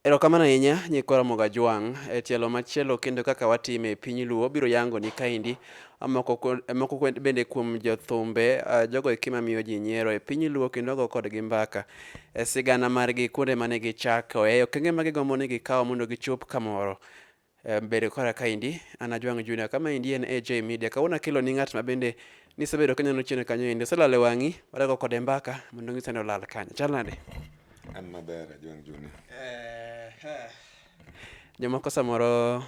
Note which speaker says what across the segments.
Speaker 1: Erokamano ahinya nyikwa Ramogi Ajwang'. E tielo machielo kendo kaka watime e piny Luo biro yangoni kaendi moko ku- eh, moko ku- bende kuom jothumbe ah, jogo eki mamiyo ji nyiero e piny Luo kendo ago kodgi mbaka e sigana margi kuonde mane gichakoe okenge ma gigombo ni gikawo mondo gichop kamoro. Eh, bedo kora kaendi an ajwang' junior kama endi en aj media kawuono akelo ni ng'at ma bende nisebedo ka neno chien kanyo endi oselal e wang'i wadago kode mbaka mondo ng'ise ni olal kanyo chal nade an maber
Speaker 2: ajwang' junior eh, eh.
Speaker 1: jomoko samoro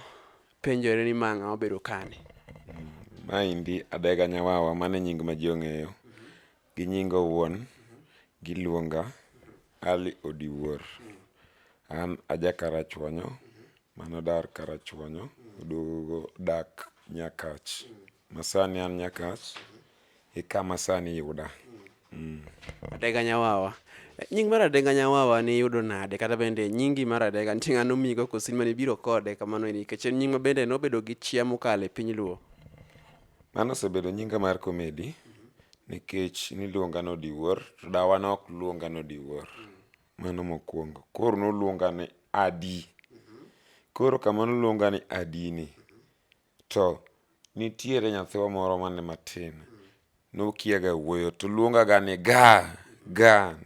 Speaker 1: penjore ni mang'a obedo kani mm, maendi
Speaker 2: adega nyawawa mane nying ma ji ong'eyo Gi nyinga owuon, giluonga Ali Odiwuor. An aja Karachuonyo manodar Karachuonyo oduogo dak Nyakach. Masani an Nyakach e kama sani iyuda.
Speaker 1: Adega Nyawawa. Nying mar Adega Nyawawa niyudo nade kata bende nyingi mar Adega nitie ng'ano omigo koso in mane ibiro kode kamano nikech en nying mabende nobedo gi chia mokalo e piny Luo? Mano
Speaker 2: osebedo nyinga mar komedi nikech niluonga ni Odiwuor to dawa ne ok luonga ni Odiwuor. Mano mokwongo. Koro noluonga ni Adi. Koro kama noluonga ni Adi ni, to nitiere nyathiwa moro mane matin, nokiaga wuoyo to luongaga ni Ga! Ga!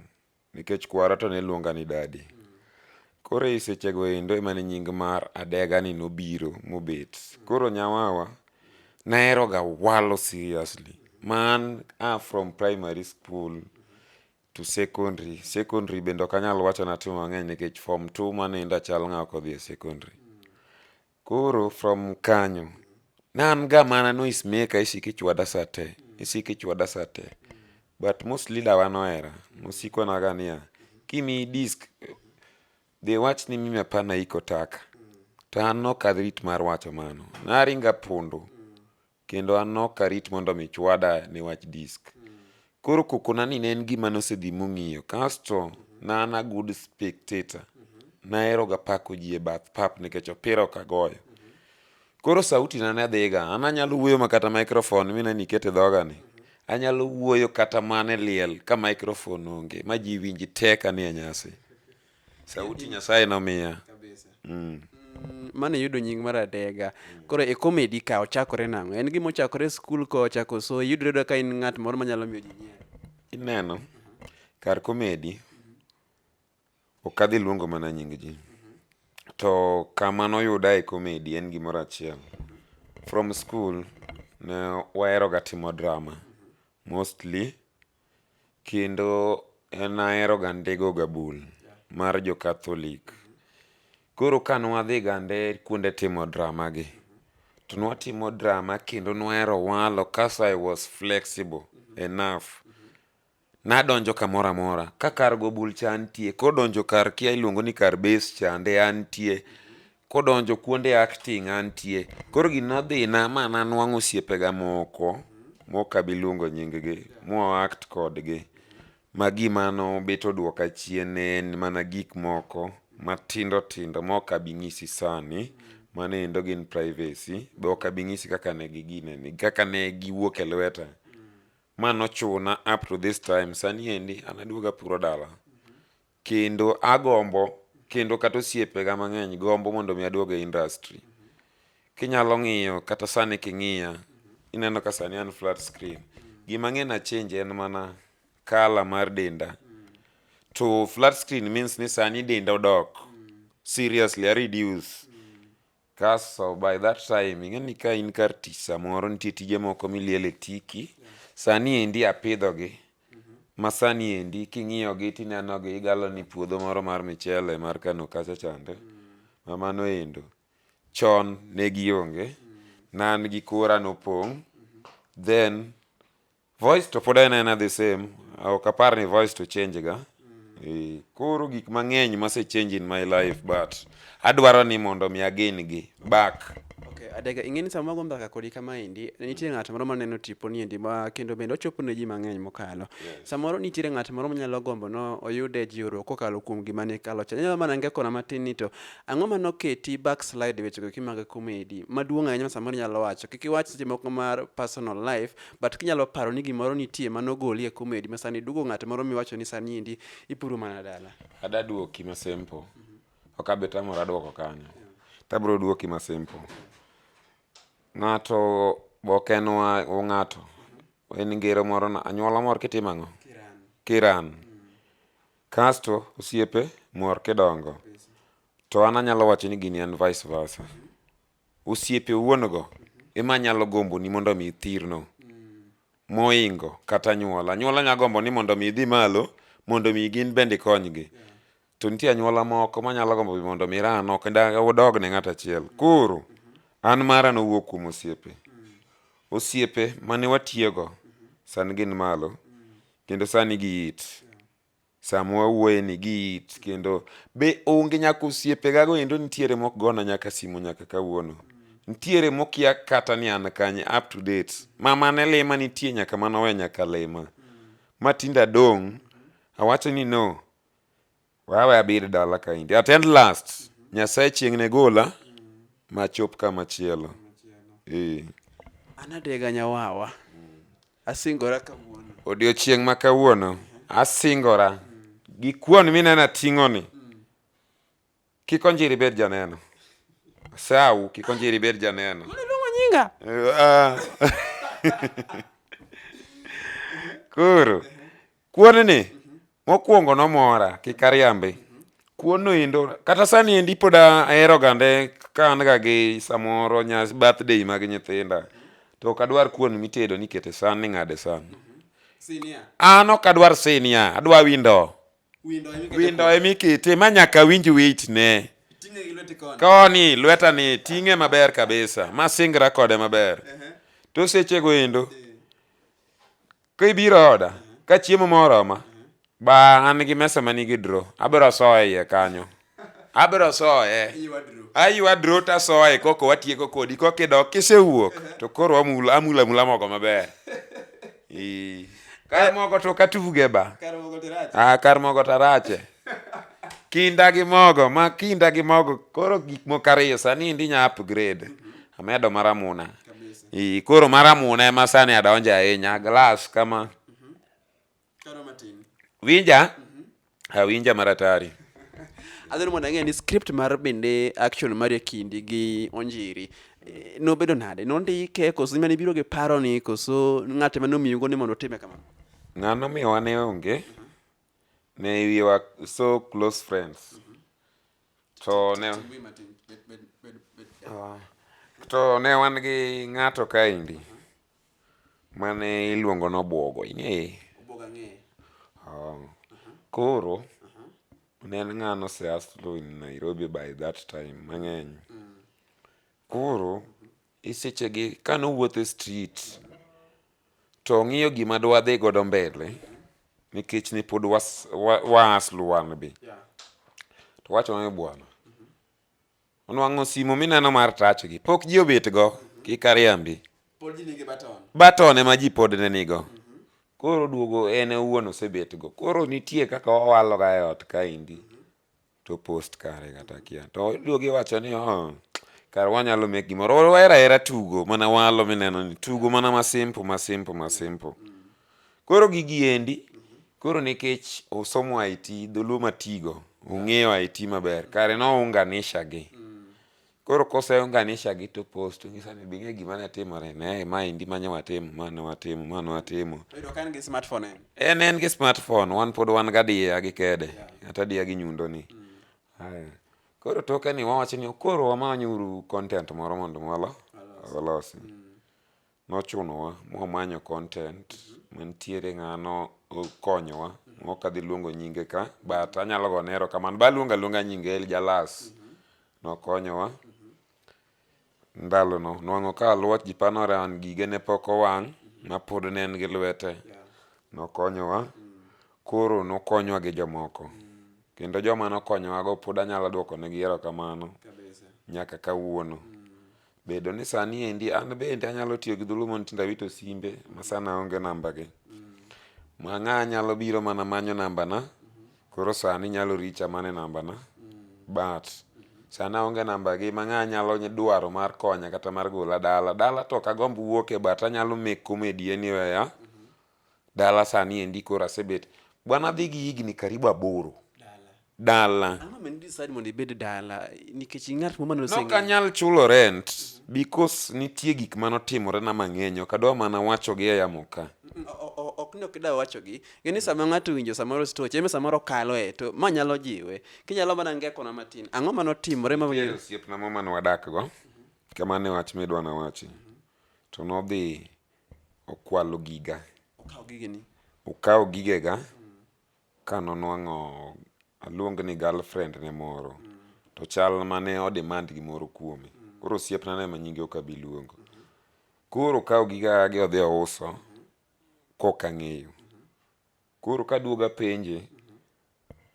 Speaker 2: Nikech kwara to ne luonga ni dadi. Koro e sechego endo emane nying mar adega ni nobiro mobet. Koro nyawawa naheroga walo seriously. Ma an a from primary school to secondary. Secondary bende ok anyal wacho natimo mang'eny nikech form two mane endo achal ng'awa kodhi e secondary. Koro from kanyo ne an ga mana noise maker isiko ichwada saa te isiko ichwada saa te but most leader wa nohera nosikona ga niya kimiyi disk dhi wach ni mimi hapana iko taka to an nok adhi rit mar wacho mano naringa pondo kendo an nok arit mondo mi chwada ne wach disk. Koro kokona ni ne en gima nosedhi mong'iyo. Kasto na an a good spectator. Nahero ga pako ji e bath pap nikech opira ok agoyo. Koro sauti na ne dhiga. An anyalo wuoyo ma kata microphone mina ni ikete dhoga ni. Anyalo wuoyo kata mana e liel ka microphone onge ma ji winji te ka ni e nyasi. Sauti Nyasaye nomiya. Kabisa. Mm. Mm,
Speaker 1: mane yudo nying mar adega koro e comedy ka ochakore nang'o en gima ochakore e skul ka ochako so yudre yudo ka in ng'at moro manyalo miyo ji nyiero Ineno,
Speaker 2: kar komedi, ok adhi luongo mana nying ji. To kama noyuda e komedi en gimoro achiel. From school, ne waheroga timo drama. Mostly, Kendo en ahero gande go gabul mar jo Catholic. Koro ka nwadhi gande kuonde timo drama gi, to nwatimo drama kendo nwahero walo kas I was flexible enough. Nadonjo kamoro amora, ka kar gobul cha antie, kodonjo kar kia iluongo ni kar base chande antie. kodonjo kuonde acting antie koro gino dhina ma nanwang'o osiepega moko mok abi luongo nyinggi mwa act kodgi ma gima nobet odwoka chien ne en mana gik moko matindo tindo mok abi nyisi sani mano endo gin privacy be ok abi nyisi kaka ne gigineni kaka ne giwuok e lweta ma nochuna up to this time sani endi an aduoga puro dala Kendo agombo, kendo kata osiepega mang'eny gombo mondo mi aduog e industry. Kinyalo ng'iyo kata sani king'iya, ineno ka sani an flat screen. Gima ang'e na change en mana colour mar denda. To flat screen means ni sani denda odok. Seriously, a reduce. Kaso by that time ing'e ni ka in kar tich samoro nitie tije moko miliele tiki. Yeah. Sani endi apidho gi. Mm -hmm. Ma sani endi king'iyo gi tineno gi igalo ni puodho moro mar michele mar Kano kacha chande. Mm. Ma mano endo. Chon ne gionge. Mm. Nan gi kura nopong'. Mm -hmm. Then Voice to pod en ena the same. Ok apar ni voice to change ga. E, koro gik mang'eny mase change in my life but adwaro ni mondo mi again gi back. Okay, adega ing'e
Speaker 1: ni sama wago mbaka kodi kama endi nitie ng'at moro maneno tipo ni endi ma kendo bende ochopo ne ji mang'eny mokalo samoro nitiere ng'at moro manyalo gombo no oyude jiwruok kokalo kuom gima ne kalo cha nyalo mana ngekona matin ni to ang'o ma noketi backslide wechego kimaga komedi maduong' ahinya ma samoro inyalo wacho kik iwach seche moko mar personal life but kinyalo paro ni gimoro nitie ma nogoli e comedy ma sani duogo ng'at moro miwacho ni sani
Speaker 2: endi
Speaker 1: ipuro mana dala ada duoki ma simple ok
Speaker 2: abe tamora duoko kanyo tabro duoki ma simple ng'ato ok en wa ng'ato en ngero moro na anyuola mor kitimo ang'o kiran mm. kasto osiepe mor kidongo to an anyalo wacho ni gini en vice versa Osiepe owuon-go e ma nyalo gomboni mondo omi ithirno moingo kata anyuola. Anyuola nyalo gombo ni mondo omi idhi malo mondo omi gin bende ikonygi. To nitie anyuola moko ma nyalo gombo be mondo omi iran oko kendo udog ne ng'ato achiel. Koro an mara nowuok kuom osiepe. Osiepe mane watiyogo sani gin malo kendo sani giit. sama wawuoye ni gi it kendo be onge nyaka osiepe gago endo nitiere mok gona nyaka simu nyaka kawuono nitiere mokia kata ni an kanye up to date mama ne lima nitie nyaka manowe nyaka lima ma tinda dong awacho ni no wawe abir dala kaindi at end last nyasaye chieng ne gola machop kama chielo eh
Speaker 1: anadega nyawawa Asingora kawuono. Odiochieng' ma
Speaker 2: kawuono asingora gi kuon mineno ating'oni. Kik onjiri bed janeno. Asawu kik onjiri bed janeno. Iluongo nyinga.
Speaker 1: Ah.
Speaker 2: Koro Kuon ni mokwongo nomora kik ariambi. Kuon no endo kata sani endi pod ahero gande ka an ga gi samoro nyas birthday mag nyithinda to ok adwar kuon mitedo ni kete san ni ng'ade san.
Speaker 1: An ok adwar
Speaker 2: sinia, adwa windo. Windo ema ikete ma nyaka awinj weight ne.
Speaker 1: Koni lweta ni
Speaker 2: ting'e maber kabisa, masingra kode maber. To sechego endo Ka ibiro e oda, ka chiemo ma oroma, ba an gi mesa ma nigi dro, abiro soye iye kanyo. Abiro soye. Aywa dro to asoye koko watieko kodi koko idok kisewuok to koro amul amul amula mogo maber. Ee. Kar mogo to ok atuge ba. Ah,
Speaker 1: kar mogo to arache.
Speaker 2: Kinda gi mogo, ma kinda gi mogo koro gik moko ariyo sani endi inya upgrade. Amedo mar amuna. Ii, koro mara mune ma sani adonje ahinya glass kama
Speaker 1: Karo matin. winja
Speaker 2: awinja maratari Adhani
Speaker 1: mondo ang'e ni script mar bende action mar e kindi gi Onjiri eh, nobedo nade? Nondike koso mane biro gi paro ni koso ng'ate mane omiyigo ni mondo otime kamano? ng'ano miwa
Speaker 2: ne onge ne wiwa so close friends To ne oh. to ne wan gi ng'ato kaendi mane iluongo nobwogo ing'eye
Speaker 1: oh.
Speaker 2: koro ne en ng'ano oseaslo in nairobi by that time mang'eny koro E sechegi ka nowuotho e street to ong'iyo gima dwadhi godo mbele nikech ne pod waasluwan be to wacho ni bwana onwang'o simu mineno mar tach gi pok ji obet go kik ariambi
Speaker 1: baton ema ji pod
Speaker 2: ne nigo koro duogo en owuon osebet go koro nitie kaka wawaloga e ot kaendi to post kare kata kia to duogi wacho ni oh, kar wanyalo make gimoro wahera hera tugo mana walo mineno ni tugo mana masimpo masimpo masimpo koro gigi endi koro nikech osomo it dholuo matigo ong'eyo it maber kare nounganisha gi Koro koseunganisha gi to post to ng'isa ni bing'e gima ne timore ne ma endi ma ne watimo ma ne watimo ma ne watimo. Oyudo ka en gi
Speaker 1: smartphone en. En en gi
Speaker 2: smartphone wan pod wan gadiya gi kede kata adiya gi nyundo ni. Haya. Koro toke ni wawacho ni koro wamanyuru content moro mondo walo walosi. Nochunowa mwamanyo content mantiere ng'ano konyowa ok adhi luongo nyinge ka but anyalo gone erokamano baluongo aluonga nyinge El Jalas nokonyowa ndalono nwang'o ka alwach ji panore an gige ne pok owang' ma pod ne en gi lwete nokonyowa koro nokonywa gi jomoko kendo joma nokonyowago pod anyalo dwokonegi erokamano nyaka kawuono Bedo ni sani endi an bende anyalo tiyo gi dhulu mondo tinda wito simbe ma sana aonge nambagi. Ma ng'a nyalo biro mana manyo nambana, koro sani nyalo richa mana e nambana. But sani aonge nambagi ma ng'a nyalo dwaro mar konya kata mar gola dala. Dala to ok agomb wuoke but anyalo make comedy anywhere dala sani endi koro asebet bwana adhi gi higni karibu aboro dala Ang'o ma decide
Speaker 1: mondo ibed dala nikech ing'at mama noseng'eyo. nok anyal chulo
Speaker 2: rent because nitie gik mane otimorena mang'eny ok adwa mana wachogi e yamo ka Mm, o- o- ok ni ok
Speaker 1: idwa wachogi ng'e ni sama ng'ato owinjo samoro stoch eme samoro kaloe to ma nyalo jiwe kinyalo mana ngekona matin ang'o ma notimore ma Nitie osiepna moro mane
Speaker 2: wadakgo kama ne wach midwa nawachi to nodhi Okwalo giga. Okawo gigeni.
Speaker 1: Okawo gigega
Speaker 2: ka nonwang'o aluong ni girlfriend ne moro to chal mane o demand gimoro kuome. Koro osiepna no ema nyinge ok abi luongo. Koro okawo gigagi odhi ouso kok ang'eyo. Koro ka duoga penje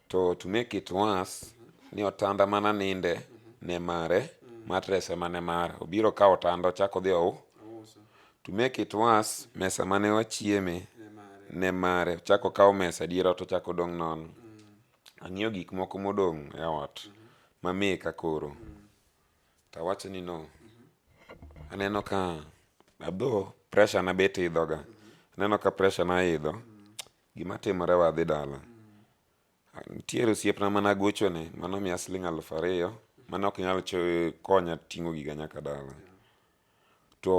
Speaker 2: to to make it worse ni otanda mana ninde ne mare matress ema ne mare obiro kawo otanda ochak odhi ou to make it worse mesa mane wachieme ne mare ochak okawo mesa dier ot ochak odong' nono ang'iyo gik moko modong' e ot ma meka koro to awacho ni no aneno ka adho pressure na bet idhoga aneno ka pressure na idho gima timore wadhi dala nitiere osiepna mana gochone mano miya siling alufu ariyo mano ok nyal cho- konya ting'o giga nyaka dala to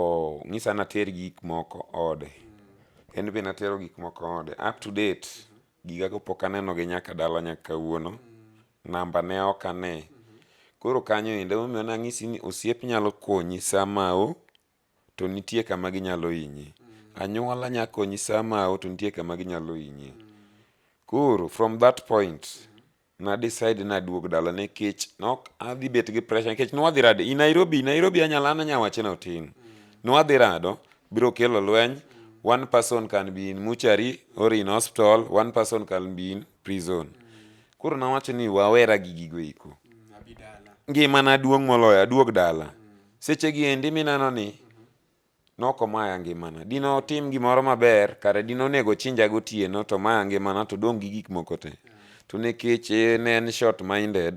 Speaker 2: ng'isa nater gik moko ode en be natero gik moko ode up to date giga go pok aneno gi nyaka dala nyaka kawuono namba ne ok ane koro kanyo ende momiyo nang'isi ni osiep nyalo konyi sama o to nitie kama ginyalo hinyi anyuola nya konyi sama o to nitie kama ginyalo hinyi koro from that point na decide na duog dala nekech nok adhi bet gi pressure nekech nwadhi rade i Nairobi Nairobi anyala an anya wache na otin mm. nwadhi rado biro kelo lweny mm. one person can be in muchari or in hospital one person can be in prison mm. koro nawacho ni wawera gi gigo iko mm, ngima na duong moloyo aduog dala mm. seche gi endi minano ni mm-hmm. Noko maya ngimana. Dino tim gimoro maber, kare dino onego chinja gotieno to maya ngimana to dong' gi gik moko te. To nekech eh, ne en short minded,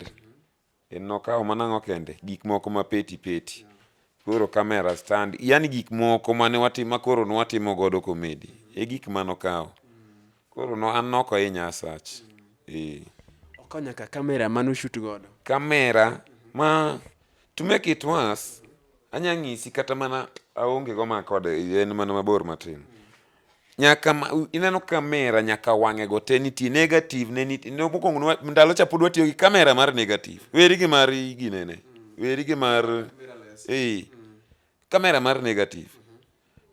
Speaker 2: en nokawo mana ang'o kende, gik moko ma peti peti. Koro kamera stand, yani gik moko mane watimo, ma koro nwatimo godo komedi. E gik manokawo. Koro no an nok ahinya asach. Eh.
Speaker 1: Okonya ka kamera mane ushut godo. Kamera
Speaker 2: ma to make it worse anya ng'isi kata mana aonge go ma kode en mana mabor matin. Nyaka ma, u- ineno kamera nyaka wang'e go te nitie negative ne nitie ne mokwongo ne wa- ndalo cha pod watiyo gi kamera mar negative. Weri gi mar ginene. Weri gi mar eh kamera mar negative.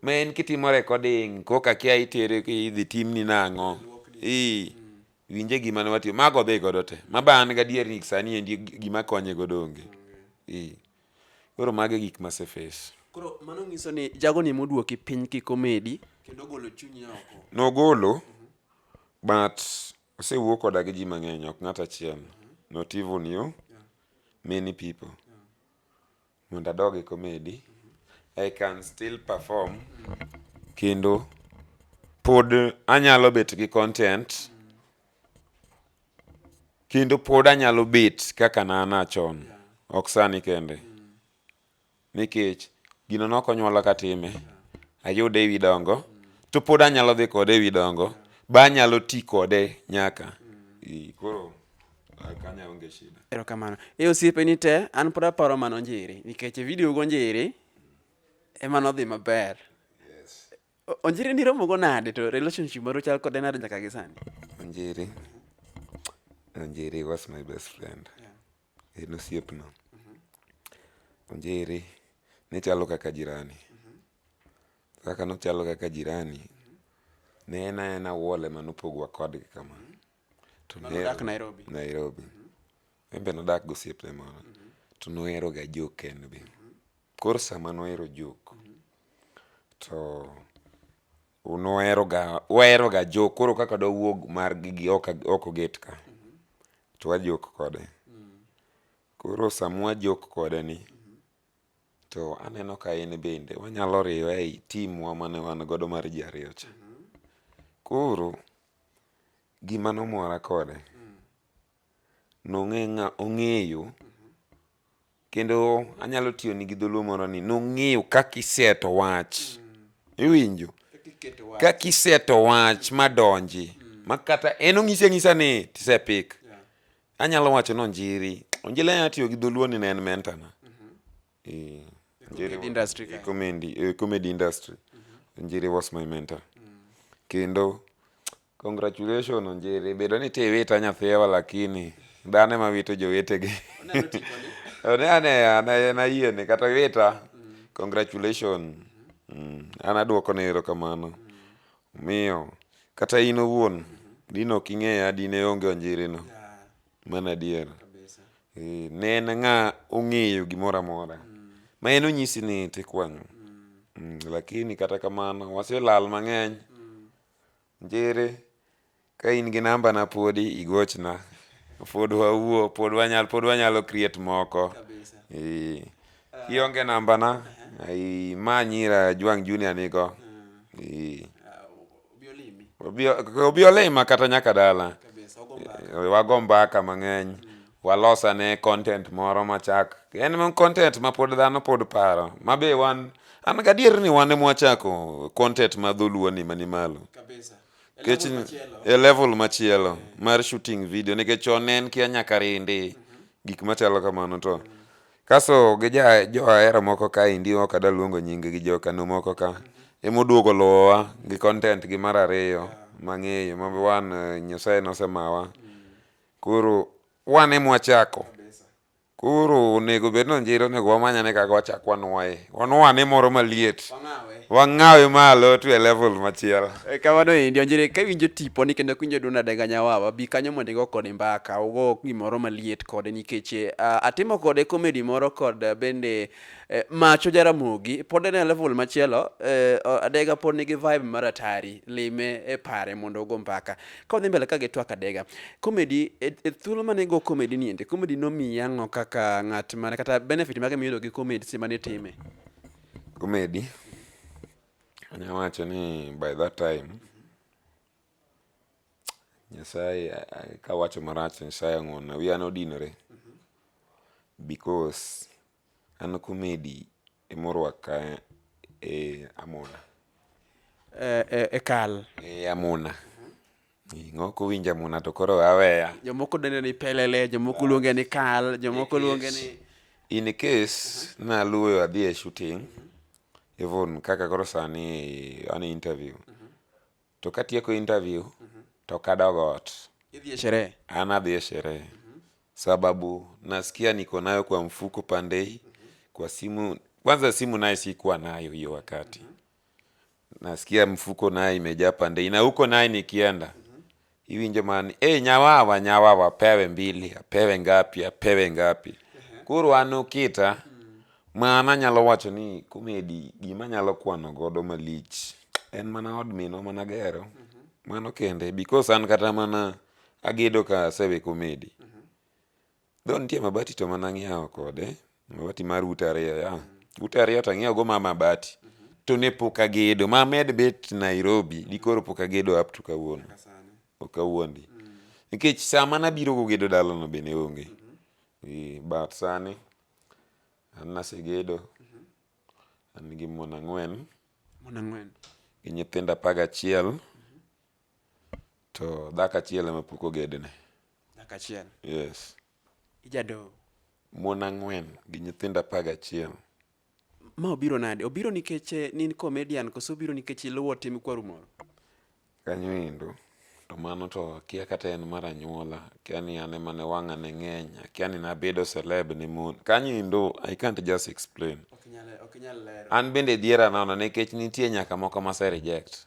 Speaker 2: Ma en kitimo recording kok akia itere ki- idhi timni nang'o. Ii. Winje gima ne watimo. Mago odhi godo te. Ma ba an gadier ni sani endi gima konye godo onge. Ii. Koro mago e gik mase face. Koro mano nyiso
Speaker 1: ni jago ni moduoki piny ki komedi kendo golo chunyi oko. Nogolo
Speaker 2: but osewuo koda gi ji mang'eny ok ng'at achiel. Not even you, many people. Mondo adog e comedy, I can still perform kendo pod anyalo bet gi content kendo pod anyalo bet kaka nana chon ok sani kende nikech gino nok onyuola katime ayude ewi dongo to pod anyalo dhi kode ewi dongo ba anyalo ti kode nyaka koro Kanya onge shida. Erokamano. E osiepe
Speaker 1: ni te, an pod aparo mano njiri, nikech e video go njiri, ema nodhi maber. Yes. Onjiri ni romo go nade to relationship maru chal kode nade nyaka gi sani? Onjiri.
Speaker 2: Onjiri was my best friend. Yeah. En osiepna. Mm-hmm. Onjiri ne chalo kaka jirani. Mm-hmm. Kaka nochalo kaka jirani, mm-hmm. ne en aena wole manopogwa kodgi kama. Mm-hmm. to nodak Nairobi.
Speaker 1: Nairobi.
Speaker 2: En be nodak gi osiepne moro to noheroga jok en be. Koro sama nohero jok to noheroga waheroga jok koro kaka dwawuog mar gigi ok ag- ok oget ka to wajok kode. Koro sama wajok kode ni to aneno ka en bende wanyalo riwe ei team wa mane wan godo mar ji ariyo cha. Koro Gima nomora kode, ong'eyo kendo anyalo tiyoni gi dholuo moro ni nong'eyo kaka iseto wach. Iwinjo? Kaka iseto wach madonji ma kata en ong'isi ang'isa ni tisepik. Anyalo wacho ni Onjiri, Onjiri anyalo tiyo gi dholuo ni ne en mentor na. eh, njeri
Speaker 1: comedy industry eh, kae. comedy eh, comedy
Speaker 2: industry njeri was my mentor kendo congratulation onjeri bedo ni tiwita nyathiwa lakini dhano ema wito jowetegi ne ane ane nayiene kata wita congratulation Mm, an aduoko ne erokamano miyo kata in owuon dine ok ing'eya dine onge onjirino Mano adier. Kabisa. Eh, ne en ng'a ong'eyo gimoro amora. Ma en onyisi ni tik wang'o. Mm, lakini kata kamano waselal mang'eny. Njere ka in gi namba na podi igochna. Pod wawuo, pod wanyal, pod wanyalo create moko. Kabisa. Eh, kionge namba na, ai ma nyira Jwang Junior nigo. Eh, Ah, obi olima kata nyaka dala eh, wago mbaka mang'eny walosane content moro machak en content ma pod dhano pod paro ma be wan an gadier ni wan emwachako content ma dholuo ni mani malo kech e level machielo eh. mar shooting video nikech chon ne en kia nyaka rindi mhm. gik machalo kamano to Kaso gi ja jo ahera moko ka endi ok adwa luongo nying gi jo kano moko ka ema oduogo luwowa gi content gi mar ariyo mang'eyo ma wan eh, Nyasaye nosemawa koro wan ema wachako koro onego bed ni onjiri onego wamanyane kaka wachak wanwoye wan wane moro maliet wang'awe malo to e level machielo E, kamano endi onjere
Speaker 1: ka iwinjo tiponi kendo ka iwinjo duond adenga nyawawa bi kanyo mondo igo kode mbaka ugo gimoro maliet kode nikech eh, ah, atimo kode komedi moro kod eh, bende eh, macho jaramogi pod en e level machielo eh, o- adega pod nigi vibe mar atari lime e pare mondo ugo mbaka ka wadhi mbele ka gi twak adega komedi e e thuolo mane igo komedi ni ende komedi nomiyi ang'o kaka ng'at mane kata benefit mage miyudo gi komedi seche mane itime Gumedi,
Speaker 2: anya wacho ni by that time Nyasaye kawacho marach Nyasaye ong'wonna, wiya nodinore because an kumedi emorwaka e amuna. E, e,
Speaker 1: e kal. E amuna.
Speaker 2: Ng'ok winja muna to koro aweya. Jomoko dende ni
Speaker 1: pelele, jomoko luonge ni kal, jomoko luonge ni in case
Speaker 2: naluoyo adhi e shooting even kaka koro sani an interview to katieko interview to kadog ot idhi e sherehe.
Speaker 1: an adhi e sherehe
Speaker 2: sababu nasikia niko nayo kwa mfuko pandei kwa simu kwanza simu naye sikuwa nayo hiyo wakati nasikia mfuko naye imejaa pande ina huko naye nikienda hivi njo maana hey, nyawawa nyawawa apewe mbili apewe ngapi apewe ngapi koro an okita mana nyalo wacho ni komedi gima nyalo kwano godo malich en mana od minwa mana gero mano kende because an kata mana agedo ka asewe komedi Though nitie mabati to mana ng'iewo kode mabati mar ute ariyo ya ute ariyo to ang'iewo go ma mabati to ne pok agedo ma med bet Nairobi di koro pok agedo up to kawuono ok awuondi nikech sama nabiro go gedo dalano be ne onge Eh, but sani an nasegedo an gi mon ang'wen Mon ang'wen. gi nyithindo apar gachiel To dhako achiel ema pok ogedne. Dhako achiel.
Speaker 1: Yes.
Speaker 2: Ijadoho.
Speaker 1: Mon
Speaker 2: ang'wen gi nyithindo apar gachiel. Ma
Speaker 1: obiro nade? Obiro nikech eh, nin comedian koso obiro nikech iluwo tim kwaru moro? Kanyo
Speaker 2: endo to mano to akia kata en mar anyuola akia ni an ema ne wang'a ne ng'eny akia ni nabedo celeb ne mon kanyo endo i can't just explain
Speaker 1: an bende dhiera nono
Speaker 2: nikech nitie nyaka moko mase reject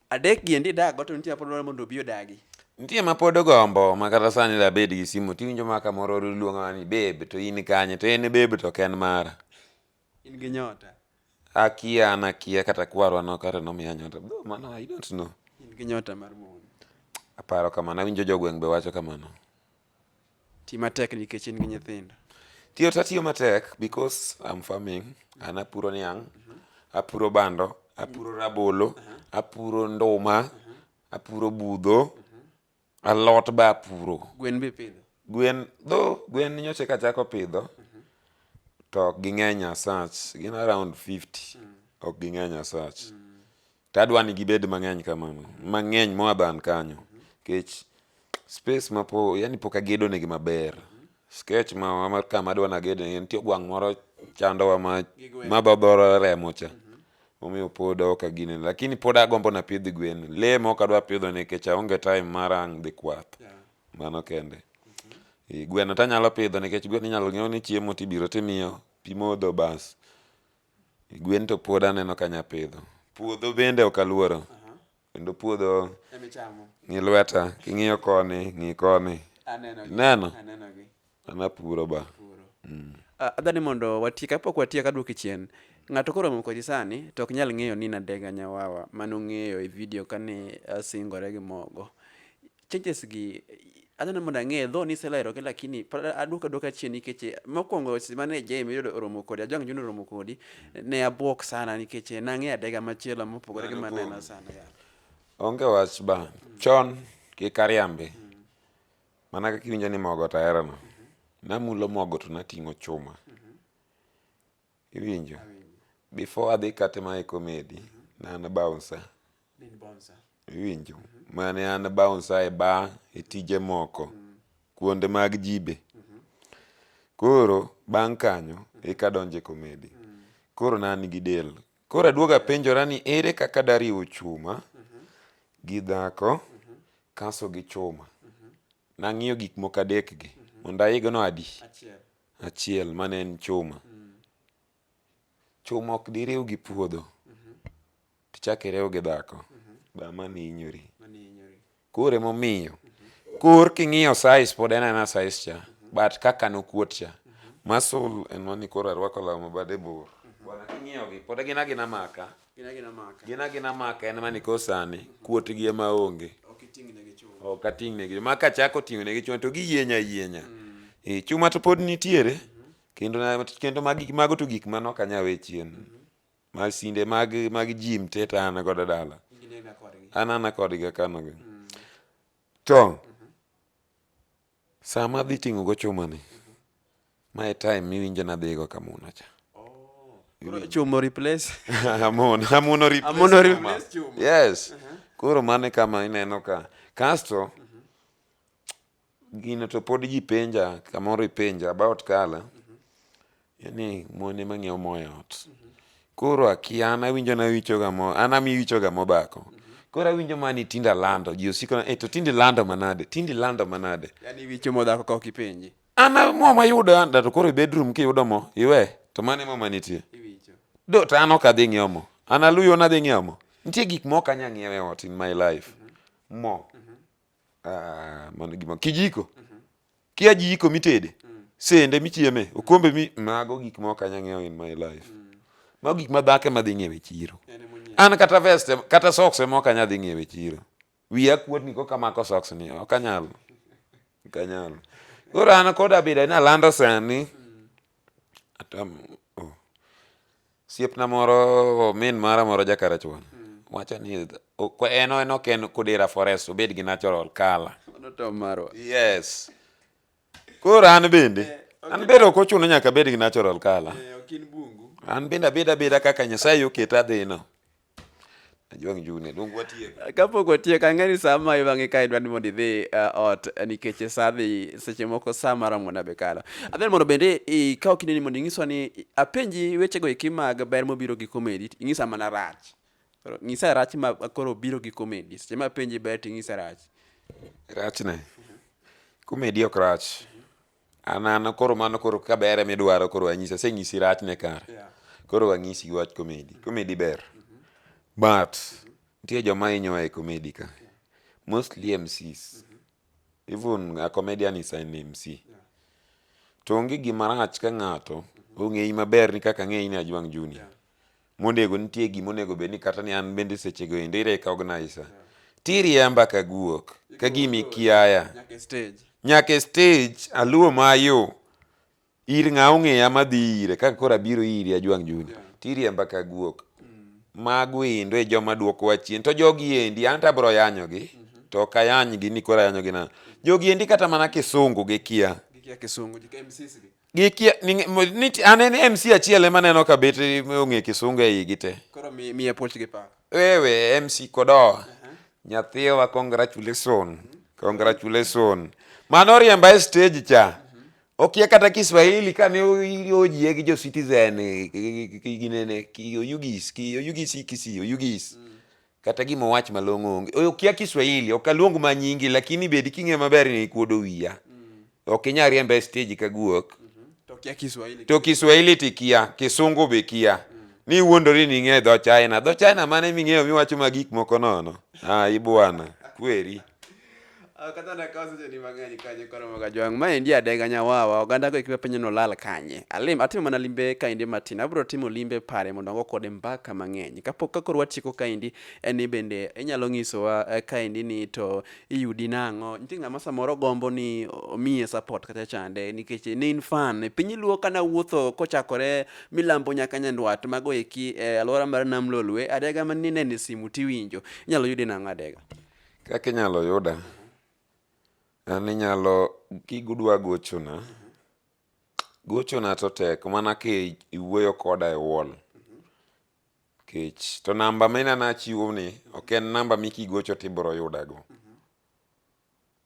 Speaker 1: Adek gi endi dago to nitie mapod dwaro mondo obi odagi. Nitie ma pod
Speaker 2: ogombo ma kata sani da bed gi simu tiwinjo ma kamoro luonga ni babe to in kanye to en babe to ok en mara. In gi
Speaker 1: nyota. Akia an
Speaker 2: akia kata kwarwa no kare nomiya nyota. Though mano I don't know. In gi nyota mar
Speaker 1: mon. Aparo
Speaker 2: kamano awinjo jogweng' be wacho kamano.
Speaker 1: Ti matek nikech in gi nyithindo. Tiyo to atiyo
Speaker 2: matek because I'm farming. An apuro niang', apuro bando, apuro rabolo, apuro nduma, apuro budho, alot be apuro. Gwen be ipidho?
Speaker 1: Gwen, though
Speaker 2: gwen nyocha eka achako pidho, to ok ging'eny as such. Gin around 50. Ok ging'eny as such. To adwa ni gibed mang'eny kamano, mang'eny more than kanyo. Kech space ma po, yani pok agedo negi maber. Sketch ma ma kama adwa nagede negi, nitie ogwang' moro chandowa ma ma dhodhore remo cha. Omiyo pod ok agine, lakini pod agombo napidh gwen. Lee mok adwa pidho nikech aonge time mar ang' dhi kwath. Mano kende. Eh, Gweno to anyalo pidho nikech gweno inyalo ng'iew ni chiemo tibiro timiyo, pi modho bas. Gwen to pod aneno ka nya pidho. Puodho bende ok aluoro. Kendo puodho ng'i lweta, king'iyo koni, ng'i koni. Ineno? An apuro ba. Mm.
Speaker 1: Adwa ni mondo watiek, kapok watiek adwoki chien. Ng'ato koro romo kodi sani to ok nyal ng'eyo ni Nadega Nyawawa manong'eyo e vidio kane asingore gi mogo. changes gi adwaro ni mondo ang'e dho ni iselero gi lakini pod aduoka duoka chien nikech eh, mokwongo seche mane Jay Mirido oromo kodi Ajwang' Junior oromo kodi ne abwok sana nikech eh, nang'e adega machielo mopogore gi Mano maneno kuom- sana yeah. onge
Speaker 2: wach ba chon kik ariambi mana kaka iwinjo ni mogo to aherono namulo mogo to nating'o chuma Iwinjo? Before adhi kate ma e komedi, ne an bouncer. Iwinjo? Ma ne an bouncer e bar, e tije moko, kuonde mag jibe. Koro bang' kanyo eka adonjo e komedi. Koro ne an gi del. Koro aduogo apenjora ni ere kaka dariw chuma gi dhako kaso gi chuma. Nang'iyo gik moko adekgi. Mondo aigno adi? achiel mane en chuma chuma ok diriw gi puodho tichak iriw gi dhako ba mani inyori koro emomiyo kor king'iyo size pod en ana size cha but kaka nokuot cha muscle en mani koro arwako law mabade bor bwana king'iyogi pod gin agina maka gin agina maka en mani kosani kuotgi ema onge ok ating'negi ma kachako ting'onegi chuma to giyieny ayienya mm. e, chuma to pod nitiere mm-hmm. kendo mago to gik mano ok anyal we chien mm-hmm. masinde mag jim te to an godo dala an ana kodgi akanogi mm. to mm-hmm. Saa ma adhi ting'o go chuma ni, ma e time miwinjo nadhi go kamuno cha. Koro
Speaker 1: chumo replace. amono amono
Speaker 2: replace Amono chuma. replace chuma. yes koro mane kama ineno ka kasto gino to pod ji penja kamoro ipenja about kala yani mon ema ng'iewo mo e ot koro akia an awinjo nawichoga mo an amiwichoga mobako koro awinjo mani tinde alando ji osiko na, "Eh, to tinde ilando manade tinde ilando manade yani wicho
Speaker 1: modhako ka ok ipenji an a- mo mayudo
Speaker 2: an da to koro e bedroom kiyudo mo iwe to mano ema manitie iwicho do
Speaker 1: to an ok
Speaker 2: adhi ng'iewo mo an aluyo nadhi ng'iewo mo nitie gik moko anya ng'iewo e ot in my life mo Ah, mano gima kijiko. Mm -hmm. Kia jiko mitede. Mm -hmm. Sende michieme, mm-hmm. okombe mi mago gik ma ok anyang'eyo in my life. Mm -hmm. Mago gik ma dhake madhi ng'iewe chiro. An kata vest kata socks ma ok anyadhi ng'iewe chiro. Wiya kuot ni koka mako socks ni ok anyal. Ok anyal. Koro an koda bida ni alando sani. Mm. Atam oh. Siepna moro min mara moro jakarachuon mm. wacho ni en en ok en Kudira Forest obed gi natural color.
Speaker 1: Yes.
Speaker 2: Koro an bende eh, an bende ok ochuno nyaka abed gi natural color. Eh,
Speaker 1: an bende abeda abeda
Speaker 2: kaka Nyasaye oketa adhino. Ajwang' June, luong watiek. Kapok watiek, ang'e
Speaker 1: ni sa ma iwang'e ka idwa ni mondo idhi uh, ot eh, nikech e sa dhi seche moko sa maromo na be kalo. Adher mondo bende ikaw kinde ni mondo inyiswa ni apenji wechego eki mag ber mobiro gi komedi, inyisa mana rach. Koro Nyisa rach ma koro biro gi komedi. Seche ma apenji ber to inyisa rach. Rachne.
Speaker 2: Komedi ok rach. an an koro mano koro ka ber ema idwaro koro anyisi asenyisi rachne kare koro anyisi wach komedi komedi ber but nitie joma hinyowa e komedi ka mostly mcs even a comedian is an mc to onge gima rach ka ng'ato ong'eyi maber ni kaka ang'eyi ni ajwang' junior monego nitie gima onego bed ni kata ni an bende sechego endo irecogniza tiriemba ka guok ka gima ikiaya nyaka e stage aluo mayo ir ng'a ong'eya madhi ire kaka koro abiro iri ajwang' juni tiriemba ka guok mago endo e joma dwokowa chien to jogi endi an to abiro yanyogi to ok ayanygi ni koro ayanyogi nang'o jogi endi kata mana kisungu gikia
Speaker 1: Gikia
Speaker 2: niti anene MC achiel ema neno ka bet ong'e kisunga e igi te. Koro mi mi approach gi
Speaker 1: pa. Wewe MC
Speaker 2: kodo. Uh -huh. Nyathiwa congratulation. Uh -huh. Congratulation. Mano riemba e stage cha. Uh -huh. Okia kata Kiswahili ka ne oyie gi jo citizen ginene ki oyugis ki oyugis kisi oyugis. Uh -huh. Kata gima owach malong'o onge. Oyo kia Kiswahili, ok aluong ma nyingi lakini bedi king'e maber ni ikuodo wiya. Mm. Ok inya riemba e stage ka guok. Mm -hmm. To kia
Speaker 1: Kiswahili. To Kiswahili ti
Speaker 2: kia, Kisungu be kia. Mm. Ni wuondori ni ing'e dho China. Dho China mane ming'eyo miwacho ma gik moko nono. Ah, ibwana. Kweri.
Speaker 1: kata na kawo seche ni mang'eny kanye koromo ga jwang' ma endi adega nyawawa oganda go ikiwa penyo nolal kanye alim atimo mana limbe kaendi matin abro timo limbe pare mondo ango kode mbaka mang'eny kapok ka koro watieko kaendi en ni bende inyalo nyisowa eh, kaendi ni to iyudi nang'o nitie ng'ama samoro gombo ni omiye support kata chande nikech ne in fan piny luo kana wuotho kochakore milambo nyaka nyandwat mago eki eh, alwora mar nam lolwe adega manine ni simu tiwinjo inyalo yude nang'o adega Kaka inyalo
Speaker 2: yuda, an inyalo kidwa gochona, gochona to tek mana ka iwuoyo koda e wall nikech to namba ma ineno achiwoni ok en namba ma kigocho to ibiro yudago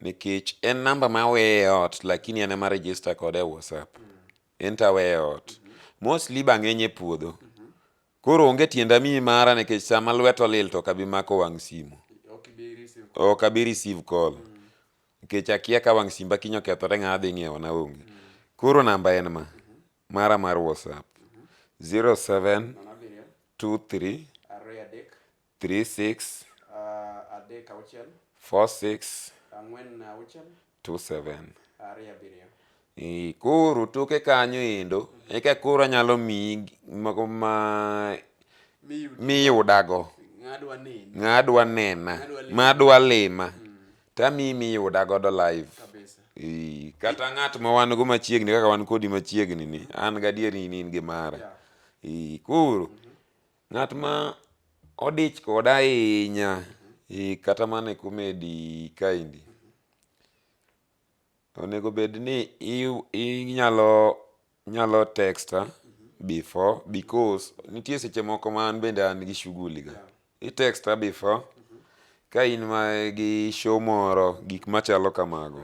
Speaker 2: nikech en namba ma aweye e ot lakini an ema a register kode e WhatsApp, en to aweye e ot. Mostly be ang'eny e puodho. Koro onge tienda miyi mara nikech sama lwet olil to kabi mako wang' simu. Ok abi receive call. Nikech akia ka wang' simba kiny okethore ng'a adhi ng'iewo na onge. Koro namba en ma. Mara mar WhatsApp. 0723 36 ah, adek auchiel 46 ang'wen auchiel 27 ariyo abiriyo Eh, koro toke kanyo endo eka koro anyalo miyi gi- mago ma miyud miyudago ng'adwa nini ng'adwa nena Ng'adwa lima. madwa lima tamiyi miyuda godo live kabisa Eh, kata ng'at ma wan go machiegni kaka wan kodi machiegni ni an gadier ni in gi mara Yeah. Eh, koro Ng'at ma odich koda ahinya eh, kata mana e komedi kaendi, onego bed ni iw- inyalo nyalo texta before because nitie seche moko ma an bende an gi shughuli ga. I texta before ka in ma gi show moro, gik machalo kamago.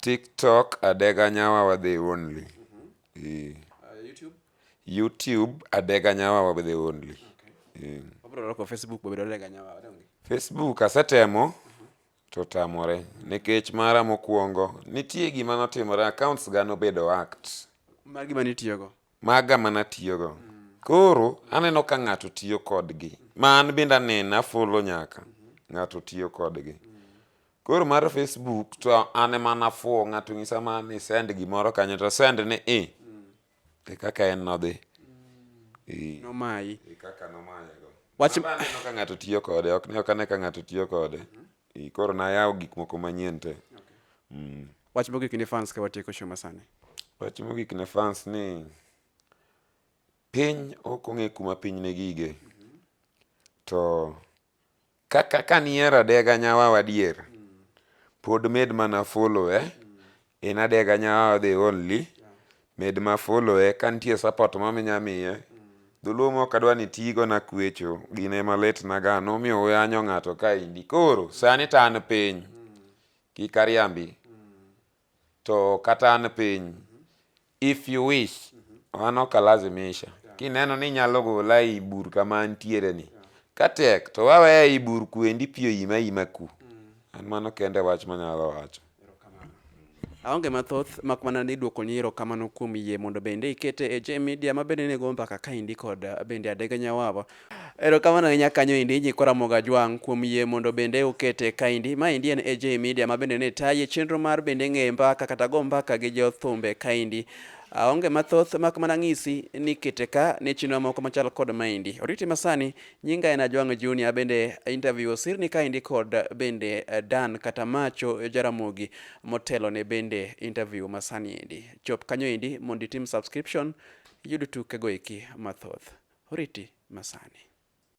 Speaker 2: Tiktok adega nyawa wadhi only ee. YouTube adega nyawa wadhi only ee. Facebook asetemo to tamore nikech mara mokwongo nitie gima notimore accounts ga nobedo act
Speaker 1: maga mana
Speaker 2: tiyogo koro aneno ka ng'ato tiyo kodgi ma an bende aneno afolo nyaka ng'ato tiyo kodgi Koro mar Facebook to an ema nafuwo ng'ato nyisa ma ni send gimoro kanyo to send ni i. E kaka en nodhi. I.
Speaker 1: Nomayi. E kaka
Speaker 2: nomaye go. Wach- Wach aneno ka ng'ato tiyo kode, ok ne ok ane ka ng'ato tiyo kode. I koro nayawo gik moko manyien te.
Speaker 1: Wach mogik ni fans ka watieko show masani. Wach mogik
Speaker 2: ne fans ni piny ok ong'e kuma piny ne gige. To Kaka ka nihero adega nyawawa adier, pod med mana followe in adega nyawawa the only, med ma followe ka nitie support moro minya miye. Dholuo moko adwa ni itigo nakwecho gin ema lit na ga nomiyo uyanyo ng'ato kaendi koro sani to an piny kik ariambi. to kata an piny if you wish an ok alazimisha kineno ni inyalo gola ei bur kama antiere ni katek to waweya ei bur kuendi pi oima ima ku an mano kende wach manyalo wacho
Speaker 1: aonge mathoth mak mana ni dwoko ni erokamano kuom yie mondo bende ikete e J Media ma bende nego mbaka kaendi kod uh, bende Adega Nyawawa Erokamano ahinya kanyo endi Nyikwa Ramogi Ajwang' kuom yie mondo bende ukete kaendi. Maendi en AJ Media ma bende ne taye chenro mar bende ng'e mbaka kata go mbaka gi jo thumbe kaendi. Aonge ah, mathoth mak mana ng'isi ni kete ka ne chenro moko machal kod maendi. Oriti masani nyinga en Ajwang' Junior bende interview osirni kaendi kod bende eh, Dan kata Macho Jaramogi motelo ne bende interview masani endi. Chop kanyo endi mondo itim subscription iyud tukego eki mathoth. Oriti masani.